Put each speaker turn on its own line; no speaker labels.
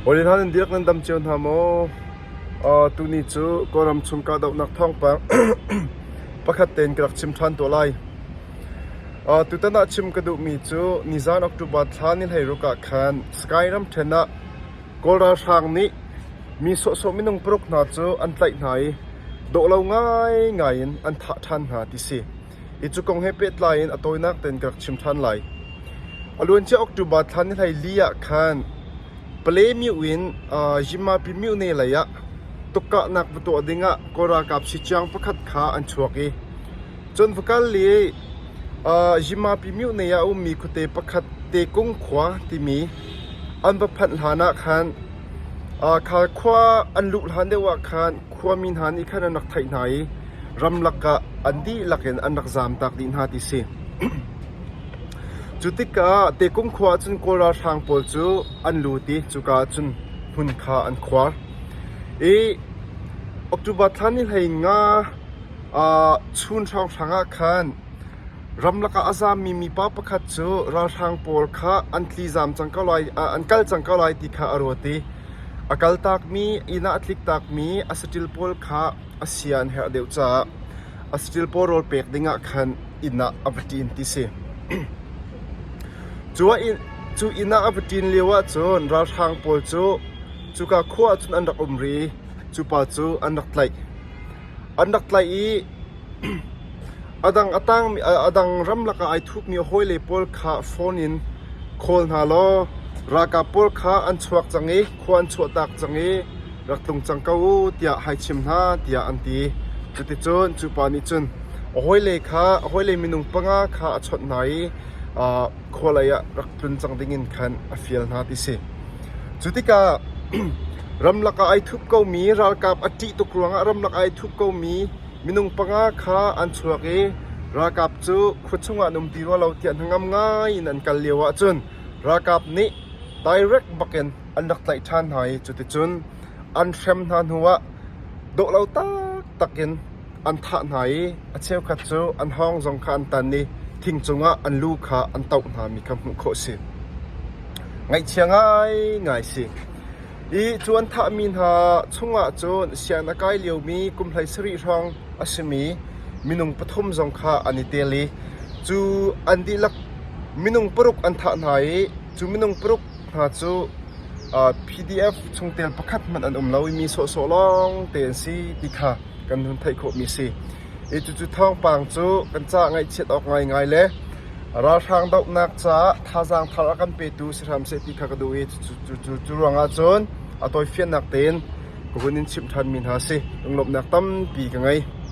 Hawi hna nan dirh nan dam cio hna maw? Tuni cu Kawlram chung kahdohnak thawngpang pakhat tein ka rak chim ṭhan tuah lai. Tutan ah chim ka duhmi cu nizan October thla ni hleiruk ah khan Sky ramṭhen ah Kawl ralhrang nih mi sawhsawh minung paruk hna cu an tlaih hna i dawh lo ngaingai in an thah ṭhan hna ti si. Hi cu kong he pehtlai in a tawinak tein ka rak chim ṭhan lai. A luancia October thla nihleili ah khan Palemyu in Yimmapi myone lei ah tukkahnak va tuah ding ah Kawl ralkap sicaang pakhat kha an chuak i Chonvakal le Yimmapi myone ah a ummi khuate pakhat Tekung khua timi an va phanh hlan ah khan Khal khua an luh hlan deuh ah khan khuami hna nih khan an rak theih hna i ramlak ah an dihlak in an rak zamtak dih hna ti si. Cu tikah Tekung khua ah cun Kawl ralhrang pawl cu an lut i cuka ah cun hmun kha an khuar. I October thla ni hlei nga uh, chun hrawnghrang ah khan Ramlak ah a zammi mipa pakhat cu ralhrang pawl kha an tli zam cang ko lai ah an kal cang ko lai ti kha a ruat i a kaltakmi inn ah a tliktakmi a saṭil pawl kha a sia an herh deuh caah a saṭil pawl rawl pek dingah khan inn ah a va ṭin ti si. Cu inn ah a va ṭin lio ahcun ralhrang pawl cu cuka khua ahcun an rak um rih i cupa cu an rak tlaih. An rak tlaih i a dang ram lakah ai thukmi hawile pawl kha fon in khawl hna law ralkap pawl kha an chuak cang i khua an chuahtak cang i rak tlung cang ko u tiah hai chim hna tiah an ti. Cuticun cu pa nih cun a hawile kha a hawile minung panga kha a chawnh hna i khualei ah rak tlun cang dingin khan a fial hna ti si. Cu tikah ramlak ah ai thup komi, ralkap a ṭih tuk ruangah ramlak ai thup komi minung panga kha an chuak i ralkap cu khua chungah an um ti rua lo tiah hnangam ngai in an kal lio ahcun ralkap nih direct bakin an rak tlaih ṭhan hna i cuticun an hrem hna hnuah dawh lo taktak in an thah hna i a cheukhat cu an hawng zong kha an tan i thing cungah an lu kha an toh hngami kha hmuh khawh a si. Ngaihchia ngaingai a si. I cu an thahmi hna chungah cun sian a kai liomi kum hlei sarih hrawng a simi minung pathum zong kha an i tel i cu an dihlak minung paruk an thah hna i cu minung paruk hna cu PDF chungtel pakhat hmanh an um lo i mi sawhsawh lawng te an si ti kha kan hun theih khawhmi a si. I cucu thawngpang cu kan ca ngaihchiat awk ngaingai le ralhrang dohnak caah thazaang thar a kan petu si hram seh ti kha ka duh i cu ruangah cun a tawifiannak tein ka hun in chimh ṭhanmi hna si lunglawmhnak tampi ka ngei.